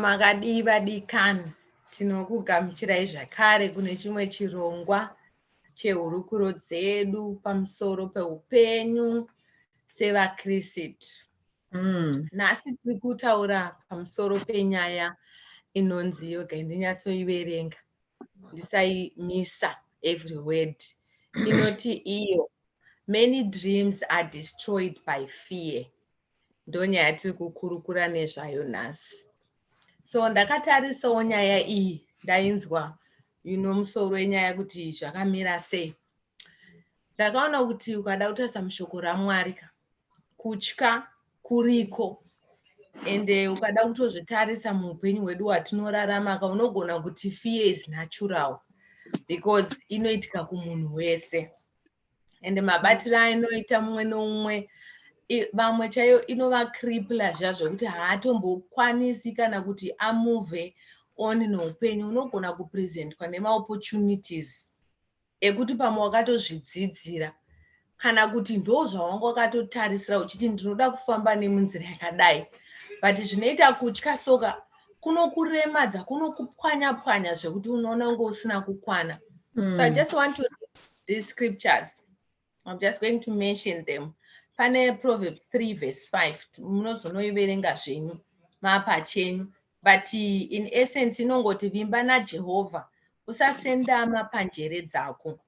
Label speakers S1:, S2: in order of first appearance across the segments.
S1: makadii vadikani tinokugamuchirai zvakare kune chimwe chirongwa chehurukuro dzedu pamusoro peupenyu sevakristu mm. nhasi tiri kutaura pamusoro penyaya inonzi yoga ndinyatsoiverenga ndisaimisa every word inoti iyo many dreams are destroyed by fear ndonyaya yatiri kukurukura nezvayo nhasi so ndakatarisawo nyaya iyi ndainzwa ino musoro wenyaya kuti zvakamira sei ndakaona kuti ukada kutarisa mushoko ramwari ka kutya kuriko and eh, ukada kutozvitarisa muupenyu hwedu hwatinorarama ka unogona kuti fear is natural because inoitika kumunhu wese and mabatiro ainoita mumwe noumwe vamwe chaiyo inovakripla zviya zvekuti haatombokwanisi kana kuti amove on noupenyu unogona kupresentwa nemaopportunities ekuti pamwe wakatozvidzidzira kana kuti ndo zvawanga wakatotarisira uchiti ndinoda kufamba nemunzira yakadai but zvinoita kutya soka kunokuremadza kunokupwanya pwanya zvekuti unoona unge usina kukwana mm. so i mm. just want to read these scriptures I'm just going to mention them. Pane Proverbs 3 verse 5 munozonoiverenga zvenyu mapachenyu but in essence inongoti vimba naJehovha usasendama panjere dzako.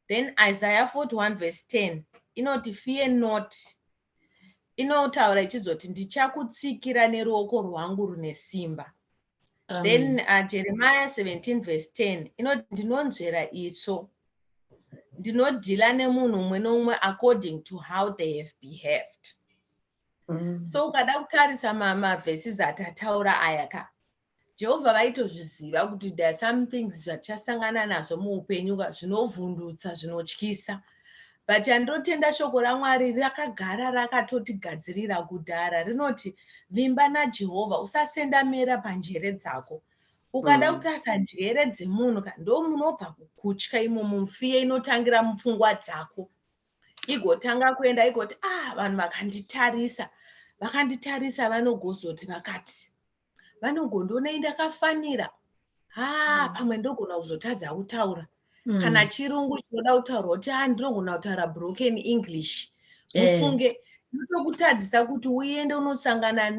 S1: Then Isaiah 41 verse 10 inoti fear not inotaura ichizoti ndichakutsikira neruoko rwangu rune simba Amen. then uh, jeremiah 17 verse 10 inoti ndinonzvera itsvo ndinodhila nemunhu umwe noumwe according to how they have behaved mm. so ukada kutarisa mavhesis atataura aya ka jehovha vaitozviziva kuti there are some things zvatichasangana nazvo muupenyu ka zvinovhundutsa zvinotyisa but chandinotenda shoko ramwari rakagara rakatotigadzirira kudhara rinoti vimba najehovha usasenda mera panjere dzako ukada mm. kutarisa njere dzemunhu ka ndo munobva kukutya imomo mufiye inotangira mupfungwa dzako igotanga kuenda igoti ah vanhu vakanditarisa vakanditarisa vanogozoti vakati vanogondiona indakafanira haa mm. pamwe ndogona kuzotadza kutaura mm. kana chirungu chinoda kutaurwa kuti ha ndinogona kutaura broken english eh. mufunge ndotokutadzisa kuti uende unosangana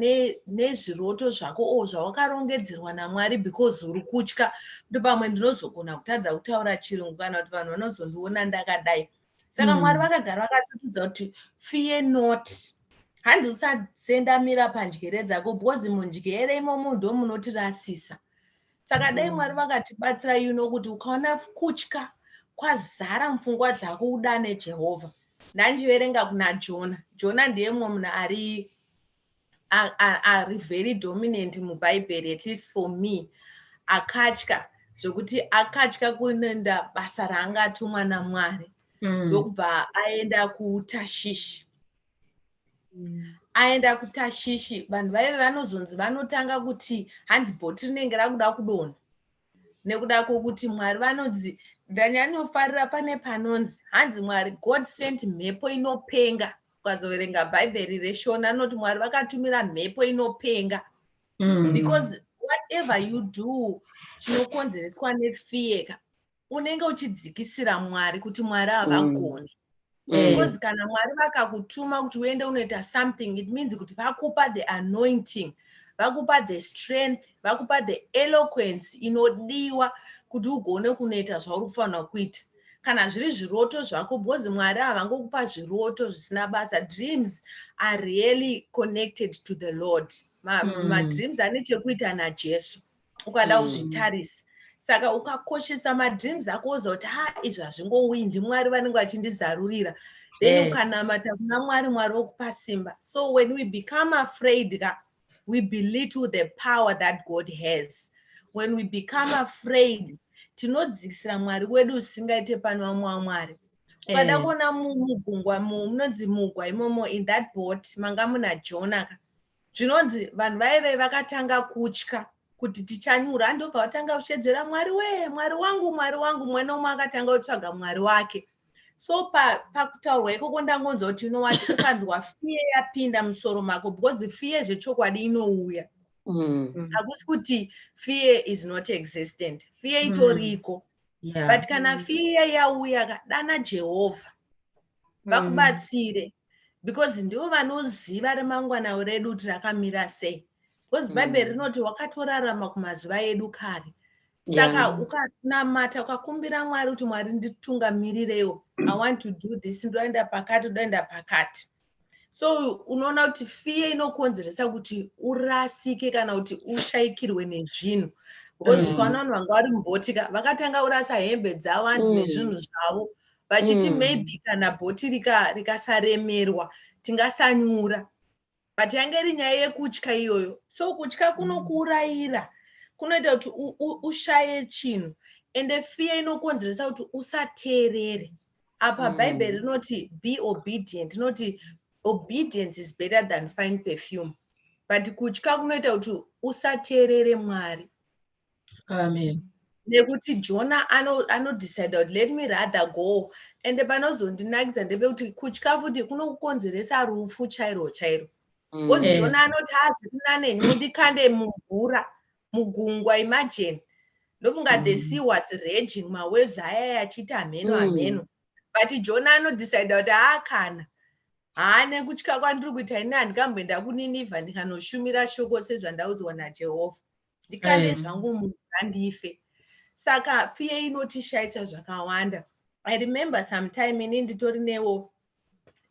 S1: nezviroto ne zvako o zvawakarongedzerwa namwari because uri kutya kuti pamwe ndinozogona kutadza kutaura chirungu kana kuti vanhu vanozondiona ndakadai saka mm. mwari vakagara vakatotudza kuti fiye not hanzi usasendamira pandyere dzako because mundyere imomo ndo munotirasisa saka mm. dai mwari vakatibatsira you know kuti ukaona kutya kwazara mupfungwa dzako udane jehovha ndandiverenga kuna jona jona ndiye mumwe munhu ari ari very dominant mubhaibheri at least for me akatya zvekuti akatya kuenda basa raanga atumwa namwari mm. ndokubva mm. aenda kutashishi mm. aenda kutashishi vanhu vaive vanozonzi vanotanga kuti hanzi bhoti rinenge rakuda kudona nekuda kwokuti mwari vanonzi ndanyanyofarira pane panonzi hanzi mwari god sent mhepo inopenga ukazoverenga bhaibheri reshona rinoti mwari vakatumira mhepo inopenga mm. because whatever you do chinokonzereswa nefear ka unenge uchidzikisira mwari kuti mwari havagoni mm. mm. because kana mwari vakakutuma kuti uende unoita something it means kuti vakupa the anointing vakupa the strength vakupa the eloquence inodiwa kuti ugone kunoita zvauri kufanira kuita kana zviri zviroto zvako because mwari havangokupa zviroto zvisina basa dreams are really connected to the lord madreams ma mm. ane chekuita najesu ukada mm. kuzvitarisa mm. saka ukakoshesa madreams ako oziva kuti ha izvi hazvingouyi ndimwari vanenge vachindizarurira then eh. ukanamata kuna mwari mwari wokupa simba so when we become afraid ka we belittle the power that god has when we become afraid tinodzikisira mwari wedu usingaite pano vamwe wamwari ukada eh. kuona mugungwa munonzi mugwa imomo in that boat manga muna jonaka zvinonzi vanhu vaive vakatanga kutya kuti tichanyura ndopavatanga kushedzera mwari wee mwari wangu mwari wangu mwana umwe akatanga kutsvaga mwari wake so pakutaurwa pa ikoko ndangonzwa kuti inowati ukanzwa fiye yapinda musoro mako because fiye zvechokwadi inouya mm. hakusi mm. kuti fiye is not existent fiye mm. itoriko mm. yeah. but kana fiye yauya dana jehovha vakubatsire because ndivo vanoziva remangwana redu kuti rakamira sei because mm. bhaibheri rinoti wakatorarama kumazuva edu kare saka yeah. ukanamata ukakumbira mwari kuti mwari nditungamirireo i want to do this ndoenda pakati ndoenda pakati so unoona kuti fiye inokonzeresa kuti urasike kana kuti ushayikirwe nezvinhu because mm. ukaona vanhu vanga vari mubotika vakatanga kurasa hembe dzavo hanzi mm. nezvinhu zvavo vachiti mm. maybe kana bhoti rikasaremerwa rika tingasanyura but yange iri nyaya yekutya iyoyo so kutya kunokuurayira kunoita kuti ushaye chinhu ende fear inokonzeresa kuti usateerere apa mm. bhaibheri rinoti be obedient inoti obedience is better than fine perfume but kutya kunoita kuti usateerere mwari amen
S2: nekuti
S1: jona anodecide kuti let me rather go and panozondinakidza ndepekuti kutya futi kunokukonzeresa rufu chairo chairo mm. bcause mm. jona anoti hazi kuna neni ndikande mumvura mugungwa imagine ndofunga mm. the sea was raging mawaves ayaya achiita hameno hameno mm. but jona anodecide kuti haa kana haa nekutya kwandiri kuita ini handikamboenda kuninivha ndikanoshumira shoko sezvandaudzwa najehovha ndikande eh. zvangu munhu andife saka fiye inotishaisa zvakawanda i remember sometime ini nditori newo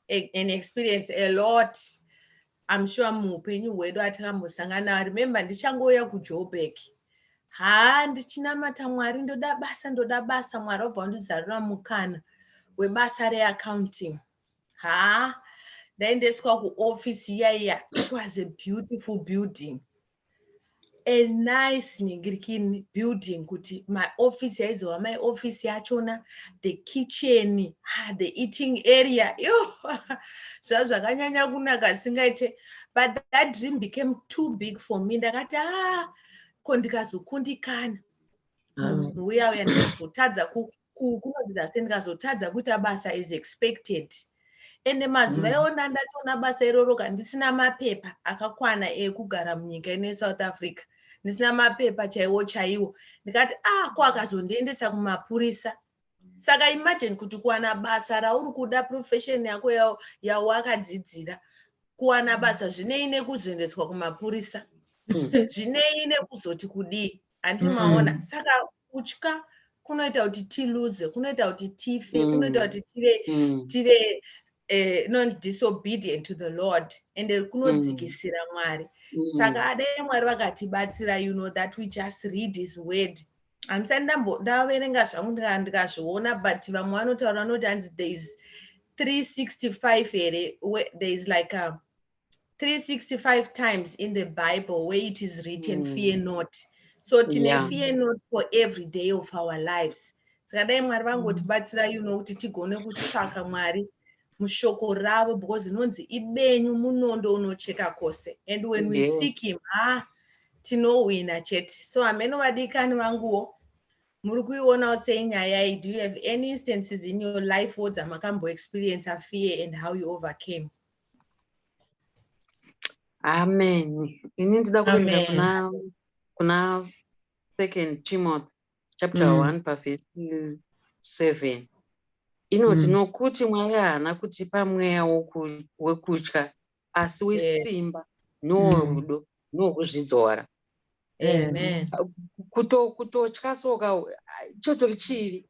S1: an experience a lot i'm sure muupenyu hwedu atakambosangana i remember ndichangouya kujobek haa ndichinamata mwari ndoda basa ndoda basa mwari wabva wandizarura mukana webasa reaccounting haa ndaendeswa kuoffice iya iya it was a beautiful building a nice ningirikini building kuti maoffice yaizova maoffice yachona the kitchen ah, the eating area yo zva zvakanyanya kunaka singaite but that dream became too big for me ndakati a ah, ko ndikazokundikana mm. munhu uya uya ndikazotadza kunodzidza se ndikazotadza kuita basa as expected ende mazuva mm. iwo ndandatoona basa iroro ka ndisina mapepa akakwana ekugara munyika ino yesouth africa ndisina mapepa chaiwo chaiwo ndikati a ah, ko akazondiendesa kumapurisa saka imagine kuti kuwana basa rauri kuda profession yako yawakadzidzira kuwana mm. basa zvinei nekuzoendeswa kumapurisa mm. zvinei nekuzoti kudii hanti mm. maona mm. saka kutya kunoita kuti tiluze kunoita kuti tife mm. kunoita kuti tive mm. tive uh, eh, non disobedient to the lord and mm. kunodzikisira mm. mwari mm. saka adai mwari vakatibatsira you know that we just read his word handisati ndaverenga zvangu ndikazviona but vamwe vanotaura vanoti hanzi there is 365 here there is like a 365 times in the bible where it is written mm. fear not so tine yeah. fear not for every day of our lives saka dai mwari vangotibatsira mm. you know kuti tigone kutsvaka mwari mushoko ravo because inonzi ibenyu munondo unocheka kwose and when we yes. seek him ah, tinohwina chete so hameno vadikani vanguwo muri kuionawo sei nyaya iyi do you have any instances in your life wo dzamakamboexperience afear and how you overcame
S3: amen ini ndida kuenda kuna kuna second timothy chapter mm. one pavhesi seven inoti mm. nokuti mwari haana kutipa mweya wekutya asi wesimba norudo mm. nokuzvidzora
S1: kutotya
S3: soka chotori chivi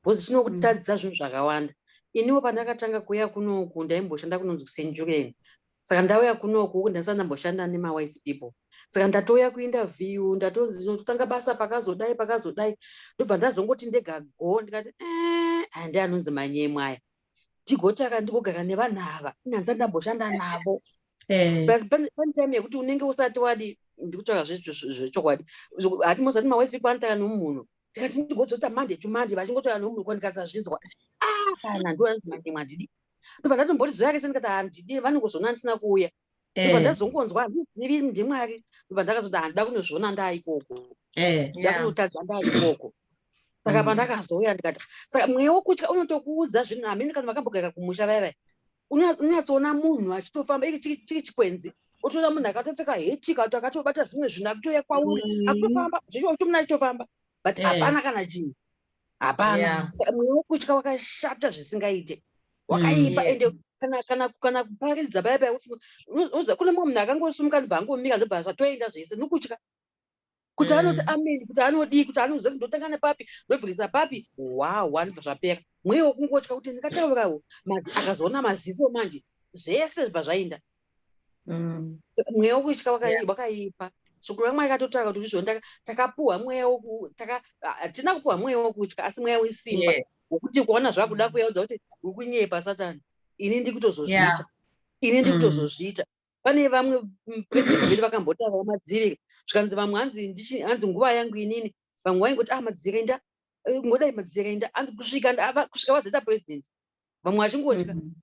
S3: bhozi chinokutadzisa zvinhu zvakawanda iniwo pandakatanga kuuya kunoku ndaimboshanda kunonzi kusenjureni saka ndauya kunoku uku ndasati ndamboshanda nemawise people saka ndatouya kuinterview ndatonzi ndinototanga basa pakazodai pakazodai ndobva ndazongoti ndega go ndikati eh, andi anonzi manyemwaya ndigotaka ndigogara nevanhu ava inhanza ndamboshanda navo eh. plus pane time yekuti unenge usati wadi ndikutsvaga zvechokwadi hati mosati mawise people anotaka nemunhu tikati ndigozoita monday to monday vachingotaura nemunhu ko ndikasazvinzwa ah, kana ndoanzimanyimwa handidi ndobva ndatomboti zoyake sendikati handidi vanongozona ndisina kuuya ndobva eh. ndazongonzwa handizivi ndimwari ndobva ndakazoti handida kunozviona ndaaikoko eh. ndakunotadza ndaaikoko saka mm. pandakazouya ndikati saka mweya wokutya unotokuudza zvinhu hamene kana vakambogara kumusha vaya vaya unyatsoona munhu achitofamba iri chiri chikwenzi otoona munhu akatopfeka hetika kuti akatobata zvimwe zvinhu akutouya kwauri mm. akutofamba zvicho kuti munhu achitofamba but eh. hapana kana chinhu hapana mweya wekutya wakashata zvisingaite wakaipa ende kana kuparidza baya baya uza kune mumwe munhu akangosumuka ndibva angomira ndobva zvatoenda zvese nokutya kuti anoti mm. ameni kuti anodii kuti anoziva kuti ndotanga nepapi ndovhirisa papi wawa ndibva zvapera mweya wekungotya kuti ndingataurawo manje akazoona maziso manje zvese zvibva zvaenda mm. mweya wokutya wakaipa shoko ramwari katotaura kuti zvizvoni takapuhwa mweya hatina kupuhwa mweya wokutya asi mweya wesimba wokuti kuona zvakuda kuya udza kuti uri kunyepa satani ini ndikutozozviita ini mm. ndikutozozviita pane vamwe presidentvedu vakambotaura vamadzirika zvikanzi vamwe hanzi nguva yangu inini vamwe vaingoti ah madzirika inda eh, ngodai madzirika inda hanzi kusvika vazoita president vamwe vachingotya mm.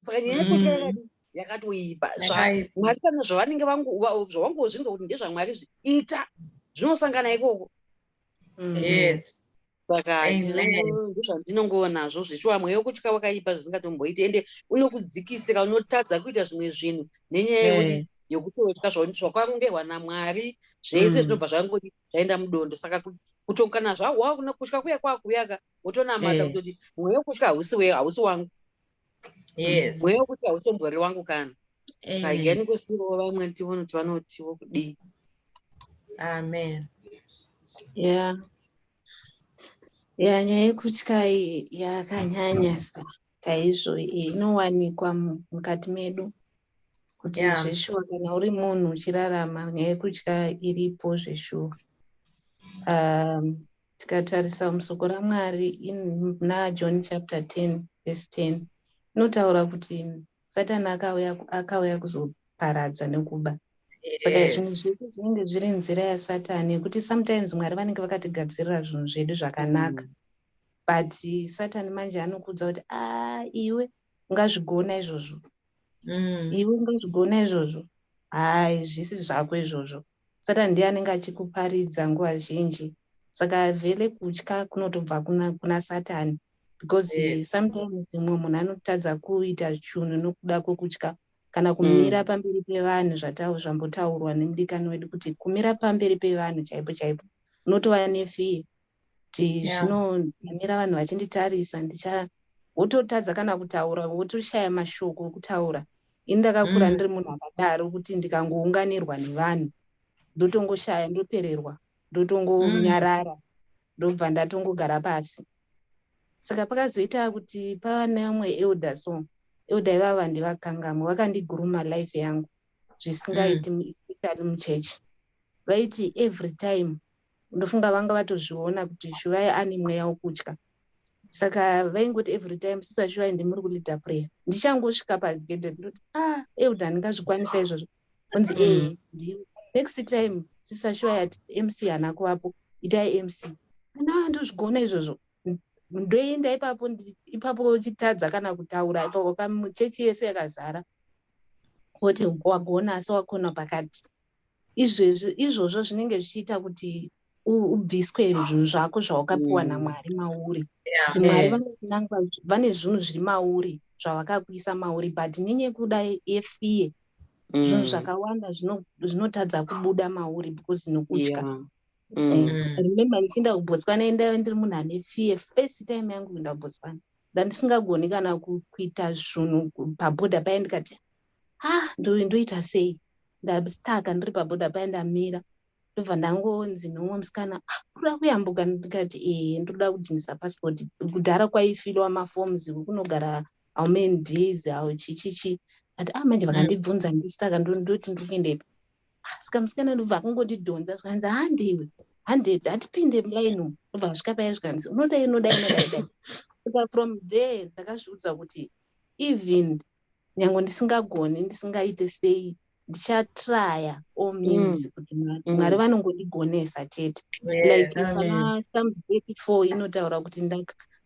S3: saka nyaya yekutya mm. yakadii yakatoipa zvamwari kana zvavanenge zvavangozvinga kuti ndezvamwari zviita zvinosangana ikoko mm. yes saka ndizvandinongova nazvo zveshuwa mweya wekutya wakaipa zvisingatomboiti ende unokudzikisira unotadza kuita zvimwe zvinhu nenyaya yekuti eh. yekutotya zvakwangerwa namwari zvese mm. zvinobva zvangoti zvaenda mudondo saka kutokana zvawa kutya kuya kwakuuyaka wotonamata eh. kutoti mweya wekutya hausi wangu yes mweya wekuti hausombori wangu kana saigani kusiivawo vamwe ndivona kuti vanotiwo kudii
S1: amen yeah
S2: ya nyaya yekutya iyi yakanyanya chaizvo inowanikwa mukati medu kuti yeah. zveshuwa kana uri munhu uchirarama nyaya yekutya iripo zveshuwa um, Tikatarisa musoko raMwari muna John chapter 10 verse 10 inotaura kuti Satani akauya akauya kuzoparadza nekuba saka zvinhu zvese zvinenge zviri nzira yasatani yekuti sometimes mwari vanenge vakatigadzirira zvinhu zvedu zvakanaka mm. but satani manje anokuudza kuti a ah, iwe ungazvigona izvozvo mm. iwe ungazvigona izvozvo hai zvisi zvako izvozvo Satani ndiye anenge achikuparidza nguva zhinji saka vele kutya kunotobva kuna, kuna satani because yes. sometimes mumwe munhu anotadza kuita chunhu nokuda kwokutya kana kumira mm. pamberi pevanhu zvambotaurwa nemudikani wedu kuti kumira pamberi pevanhu chaipo chaipo unotova nefee kuti zvino ndamira vanhu vachinditarisa ndicha wototadza kana kutaura wotoshaya mashoko okutaura ini ndakakura mm. ndiri munhu akadaro kuti ndikangounganirwa nevanhu ndotongoshaya ndopererwa ndotongonyarara mm. ndobva ndatongogara pasi saka pakazoita kuti pava neumwe elder so elder ivava ndivakangamwe vakandiguruma life yangu zvisingaiti mm. especially muchechi vaiti every time ndofunga vanga vatozviona kuti shuvai ane mweya wokutya saka vaingoti every time sisa shuvai ndimuri kuleader prayer ndichangosvika pagedhe ndoti ah euda ndingazvikwanisa izvozvo onzi mm. ee eh, next time sisa shuvai ati mc hana kuvapo itai mc ana ndozvigona izvozvo ndoenda ipapo ipapo chitadza kana kutaura ipapo kamuchechi yese yakazara oti wagona asi wakona pakati izvezvi izvozvo zvinenge zvichiita kuti ubviswe zvinhu zvako zvawakapiwa mm. namwari mauri mwari vanokunangwa vane zvinhu zviri mauri zvavakakuisa mauri but nenyekuda yefiye mm. zvinhu zvakawanda zvinotadza kubuda mauri because nokutya mm. eh, remember ndichienda kubotswana endaive ndiri munhu ane fiye first time yangu kuenda kubotswana ndandisingagoni kana kuita zvinhu paboda paye ndikati ha ndove ndoita sei ndastaka ndiri paboda paya ndamira ndobva ndangonzi nomwe musikana ah, kuda kuyambuka ndikati ee eh, ndoda kudhinisa passport kudhara kwaifilwa mafoms kunogara how many days how chichichi ati a ah, manje vakandibvunza ndosaka ndoti ndiri kuendepi ah, saka musikana ndobva akungondidhonza zvikanzi handiwe handed hatipinde mulaino ndobva asvika paya zvikanzi unoda inoda inodaidai saka from there ndakazviudza kuti even nyange ndisingagoni ndisingaite sei ndichatraya all means mm. kuti mm. mwari vanongodigonesa chete like psalm 34 inotaura kuti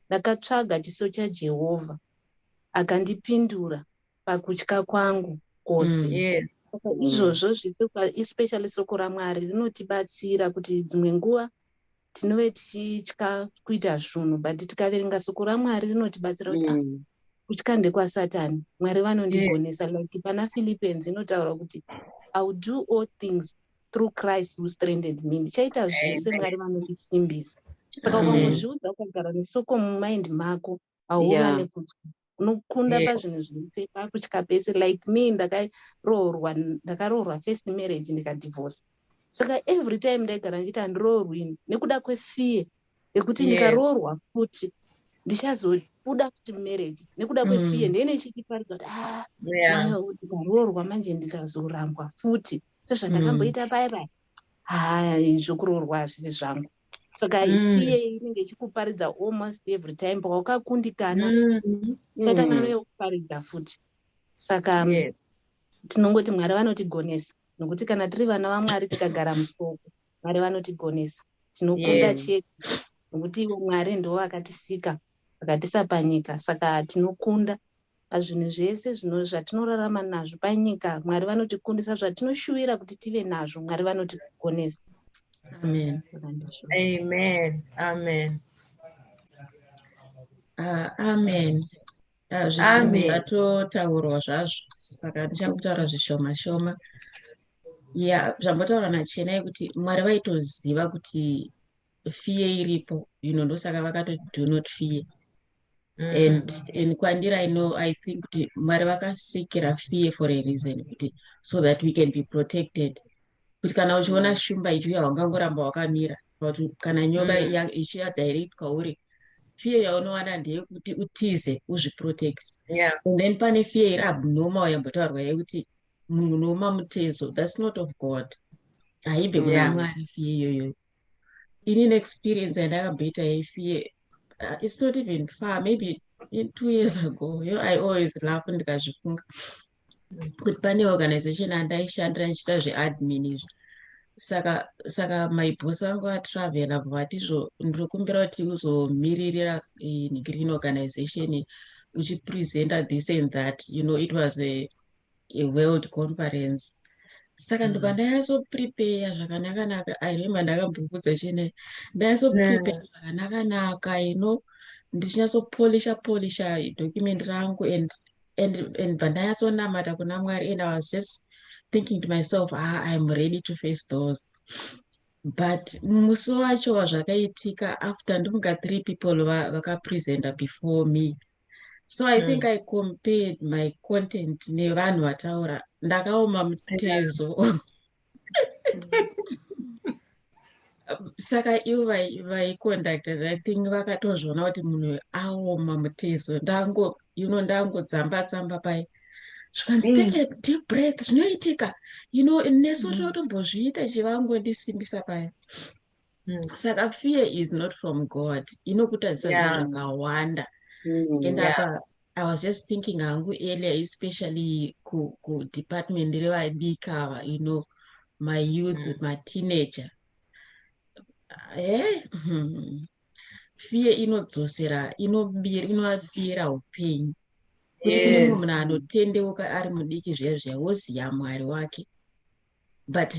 S2: ndakatsvaga chiso chajehovha akandipindura pakutya kwangu kose mm, saka izvozvo zvese especially soko ramwari rinotibatsira kuti dzimwe nguva tinove tichitya kuita zvinhu but tikaverenga soko ramwari rinotibatsira kuti ah, mm. kutya ndekwasatani mwari vanondigonesa yes. like pana philippines inotaura kuti ill do all things through christ who stranded me ndichaita zvese mwari vanondisimbisa saka ukangozviudza ukagara nesoko mumind mako hauwane kutya unokunda pazvinhu zvese pakutya pese like me ndakaroorwa ndakaroorwa first marriage ndikadivorce saka every time ndaigara ndichiti handiroorwini nekuda kwefear yekuti ndikaroorwa futi ndichazobuda futi mumarriage nekuda kwefear mm. ndee nechichiparidza kuti ah, ndikaroorwa manje ndikazorambwa futi sezvandakamboita mm. paya paya hai zvokuroorwa hazvisi zvangu saka mm. isiye inenge ichikuparidza almost every time pawakakundikana mm. saka mm. nano yokuparidza futi saka um, yes. tinongoti mwari vanotigonesa nokuti kana tiri vana vamwari tikagara musoko mwari vanotigonesa tinokunda yes. chete nokuti ivo mwari ndivo vakatisika vakatisa panyika saka tinokunda Pazvinhu zvese zvino zvatinorarama nazvo panyika, Mwari vanotikundisa zvatinoshuvira kuti tive nazvo, Mwari vanotigonesa. Amen.
S4: Amen.
S1: Amen. Uh,
S4: amen. Ah, zvisinzi zvatotaurwa zvazvo saka ndichangotaura zvishoma shoma ya zvambotaura nachena yekuti mwari vaitoziva kuti fear iripo you know ndosaka vakatoti do not fear mm. and and kwandiri i know i think kuti mwari vakasikira fear for a reason kuti so that we can be protected kuti kana uchiona mm. shumba ichiuya wangangoramba wakamira kuti kana nyoka mm. ichiya direct kwauri fear yaunowana ndeyekuti utize uzviprotect yeah. and then pane fear iri abnormal yambotaurwa yekuti munhu unooma mutezo thats not of god haibve kuna yeah. mwari fear iyoyoyo ini neexperience yandakabheta yefie uh, it's not even far maybe two years ago yo i always laugh ndikazvifunga kuti pane organization andaishandira ndichiita zveadmin izvi saka saka maibhosi vangu vatravela vatizvo ndiri kumbira kuti uzomiririra green organization uchipresenta this and that you know it was a yeworld conference saka ndobva mm. ndanyatsoprepeya zvakanakanaka i remember ndakambokudza chene ndanyatsoprepeya mm. zvakanakanaka you know ndichinyatsopolisha polisha document rangu and and and bva ndanyatsonamata kuna mwari and i was just thinking to myself ah, iam ready to face those but musi wacho wazvakaitika after ndofunga three people vakapresenta before me so i mm. think i compared my content nevanhu vataura ndakaoma mutezo saka ivo vaiconducta i think vakatozviona kuti munhu aoma mutezo ndango you know ndangodzamba tsamba pai zvikanzi mm. take a deep breath zvinoitika you know nesu mm. tinotombozviita chivangu ndisimbisa paya Mm. Saka fear is not from God. Inokutadzisa yeah. zvakawanda. Mm, and yeah. apa I was just thinking hangu earlier especially ku, ku department revadika you know my youth mm. with my teenager. Eh? Hmm. Fear inodzosera inobira inovapira upenyu. Kuti yes. kune munhu anotendeuka ari mudiki zviya zviya woziya mwari wake. but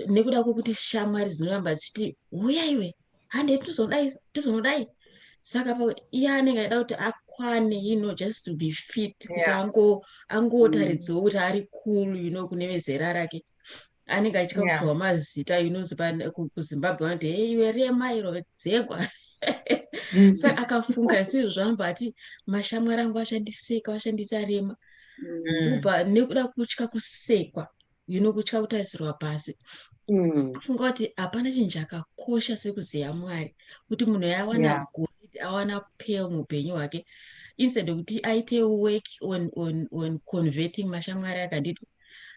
S4: nekuda kwekuti shamwari dzinoramba dzichiti huya iwe hande tizodai tizonodai saka pakuti iye anenge aida kuti akwane you know just to be fit kuti yeah. ango angotaridziwo mm. kuti ari cool you know kune vezera rake anenge achitya yeah. kupiwa mazita you know kuzimbabwe vanoti hey iwe rema iro dzegwa mm. sa akafunga isizvo zvanobva ati mashamwari angu achandiseka vachandiita rema mm. ubva nekuda kutya kusekwa you know kutya kutarisirwa pasi mm. funga kuti hapana chinhu chakakosha sekuziva mwari kuti munhu yawana yeah. good awana pale muupenyu hwake instead okuti aite work on, on, on converting mashamwari akanditi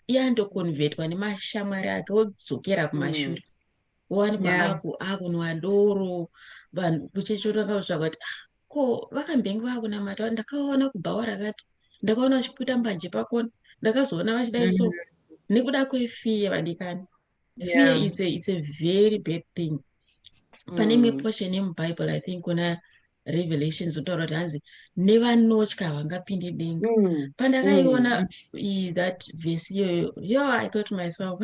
S4: iye andoconvertwa nemashamwari ake odzokera kumashure mm. owanikwa yeah. aku akunwa doro vanhu kuchechotanga kutsvaga kuti ah, ko vakambenge vakunamata ndakaona kubhawa rakati ndakaona vachiputa mbanje pakona ndakazoona vachidai so mm-hmm. nekuda kwefear vadikani fear yeah. is, a, is a very bad thing pane imwe mm. portion yemubible i think kuna revelations kutaura kuti hanzi nevanotya vangapinde denga mm. pandakaiona mm. that vhesi iyoyo yo i thought myself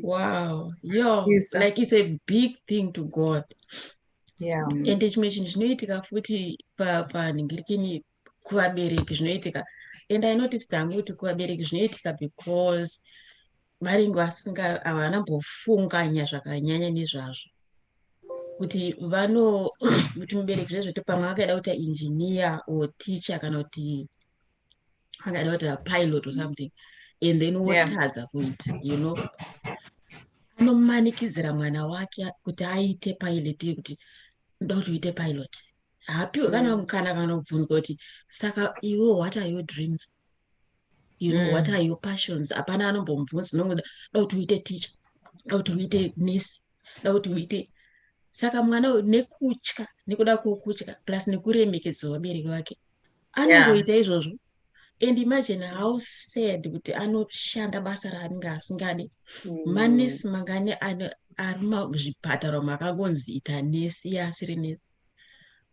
S4: wow yo yes, like it's a big thing to god yeah. ende chimwe chinhu chinoitika futi panhingirikini kuvabereki zvinoitika and i noticed hangu kuti kuvabereki zvinoitika because varinge vasinga havana mbofunganya zvakanyanya nezvazvo kuti vano kuti mubereki zvezvete pamwe akaida kuita engineer or teacher kana kuti akaida kuita pilot or something and then wotadza yeah. kuita you know anomanikidzira mwana wake kuti aite pilot yekuti ndoda kuti uite pilot haapiwe kana mm. mukana kana kubvunzwa kuti saka iwe what are your dreams you know mm. what are your passions hapana anombomubvunza nongoda da kuti uite teacher da kuti uite nurse da kuti uite saka mwana uyu nekutya nekuda kwokutya plus nekuremekedzwa vabereki vake anongoita yeah. izvozvo and imagine how sad kuti anoshanda basa raanenge asingadi mm. manesi mangani ari muzvipatara makangonzi ita nesi ye asiri nesi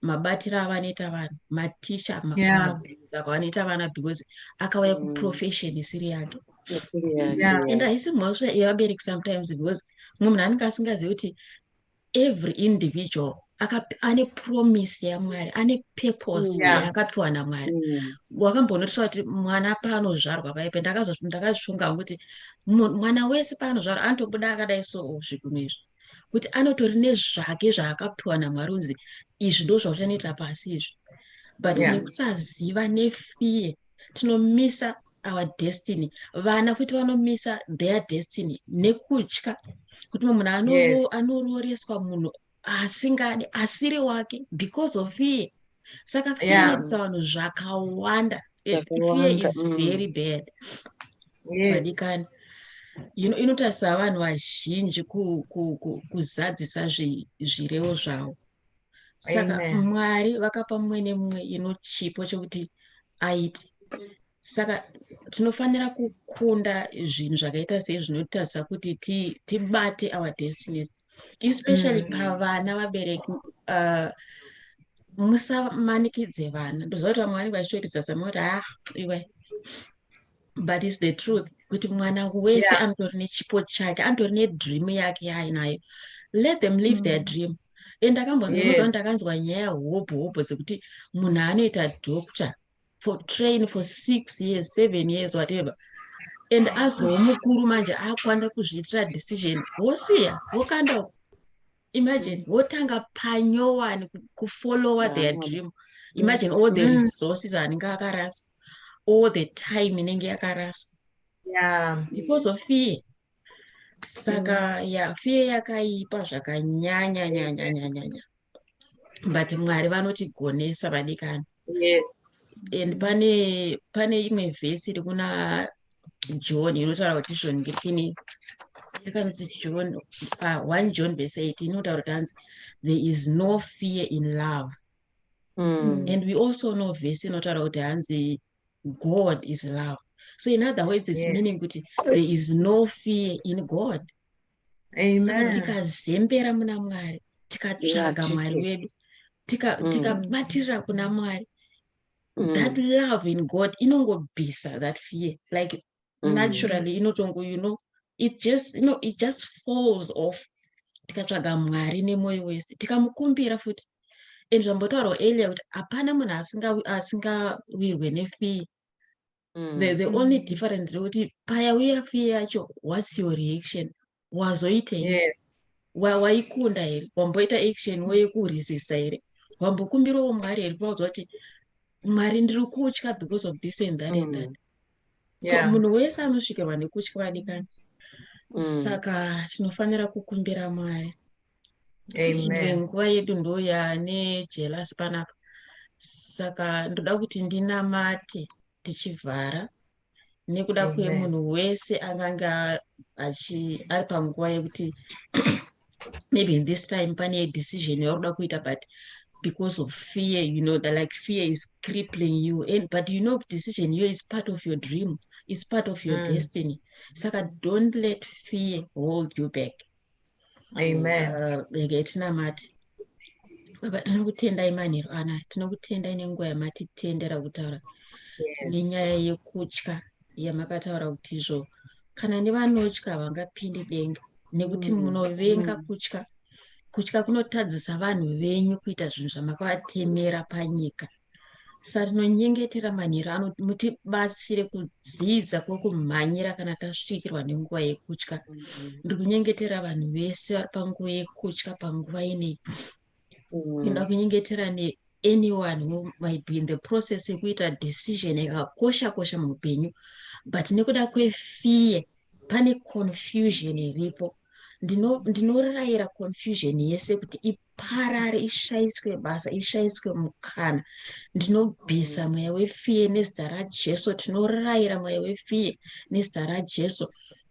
S4: mabatiro avanoita vanhu matisha mabhinza kwavanoita vana because akauya mm. kuprofession isiri yake and haisi mhosva yevabereki sometimes because mumwe munhu anenge asingazivi kuti every individual ane promise yamwari ane purpose mm. yaakapiwa namwari mm. wakambonotisa kuti mwana paanozvarwa paipe ndakazvifunga kuti mwana wese paanozvarwa anotobuda akadai so zvikunhu izvi kuti anotori nezvake zvaakapiwa namwari unzi izvi ndo zvauchanoita pasi izvi but yeah. nekusaziva nefear tinomisa our destiny vana futi vanomisa their destiny nekutya kuti munhu anororeswa yes. munhu asingadi asiri wake because of fear saka fear yeah. inoitisa vanhu zvakawanda It, fear is mm. very bad vadikani yes. inotarisa ino vanhu vazhinji kuzadzisa ku, ku, ku zvirevo zvavo saka Amen. mwari vakapa mumwe nemumwe ino chipo chekuti aite saka tinofanira kukunda zvinhu zvakaita sei zvinotarisa kuti tibate ti our destinies especially mm. pavana vabereki uh, musamanikidze vana ndoziva kuti vamwe vanenge vachitoitisa samoti ah iwe but is the truth kuti mwana wese yeah. anotori nechipo chake anotori nedream yake yaainayo let them live mm. their dream and ndakambonzwa yes. ndakanzwa nyaya hobho hobho dzekuti munhu anoita doctor for train for six years seven years whatever and azowo mukuru manje akwanira kuzviitira decision wosiya wokanda imagine wotanga panyowani kufollowa their dream imagine all the mm. resources anenge akaraswa all the time inenge yakaraswa because of fear saka mm. ya fear yakaipa zvakanyanya nyanya nyanya nyanya but mwari vanotigonesa vadikani yes and pane pane imwe vhesi iri kuna john inotaura kuti zvongekini yakanzi john uh, one john vhesi 8 inotaura kuti hanzi there is no fear in love mm. and we also know vhesi inotaura kuti hanzi god is love so in other words is yeah. meaning kuti there is no fear in god saka tikazembera muna mwari tikatsvaga mwari wedu mm. tikabatirira kuna mwari mm. that love in god inongobvisa that fear like mm. naturally inotongo you know it just you know it just falls off tikatsvaga mwari nemwoyo wese tikamukumbira futi and zvambotaurwa earlier kuti hapana munhu asingawirwe nefee mm. the, the only difference rekuti paya uya fear yacho whats your reaction wazoitei yes. waikunda wa here wamboita action woyekuresista here wambokumbirawo mwari here paudzwa kuti mwari ndiri kutya because of this and that mm. and that mm. so yeah. munhu wese anosvikirwa nekutya vadikani mm. saka tinofanira kukumbira mwari Amen. nguva yedu ndoya nejelasi panapa saka ndoda kuti ndinamate tichivhara nekuda kwemunhu wese angange achi ari panguva yekuti maybe in this time pane decision yauri kuda kuita but because of fear you know that like fear is crippling you and but you know decision you is part of your dream is part of your mm. destiny saka don't let fear hold you back Amen.
S1: Uh, regai tinamate
S4: baba tinokutendai manheru ana tinokutendai nenguva yamatitendera kutaura nenyaya yekutya yamakataura kuti izvo kana nevanotya havangapindi denga nekuti mm. munovenga mm. kutya kutya kunotadzisa vanhu venyu kuita zvinhu zvamakabatemera panyika sarinonyengetera manheru ano mutibatsire kudzidza kwekumhanyira kana tasvikirwa nenguva yekutya ndiri kunyengetera vanhu vese vari panguva yekutya panguva inei inoda mm. kunyengetera neanyone who might be in the process yekuita decision yakakosha kosha muupenyu but nekuda kwefear pane confusion iripo ndinorayira confusion yese kuti iparare ishaiswe basa ishaiswe mukana ndinobvisa mm. mweya wefiye nezita rajesu tinorayira mweya wefiye nezita rajesu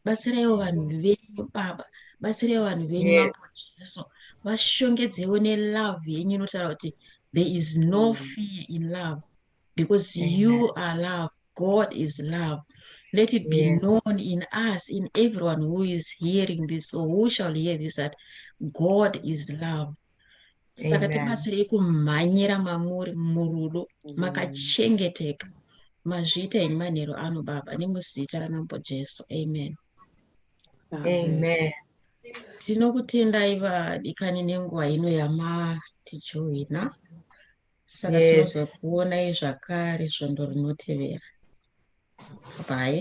S4: batsiraiwo vanhu venyu baba batsiraiwo vanhu venyu mambo jesu vashongedzewo nelove yenyu inotaura kuti there is no mm. fear in love because Amen. you are love god is love let it be yes. known in us in everyone who is hearing this or who shall hear this that god is love saka tibatsirei kumhanyira mamuri murudo makachengeteka mazviita ini manheru ano baba nemuzita ramambo jesu amen
S1: amen
S4: tinokutendai vadikani nenguva ino yamatijoina saka tinozokuonai zvakare svondo rinotevera bye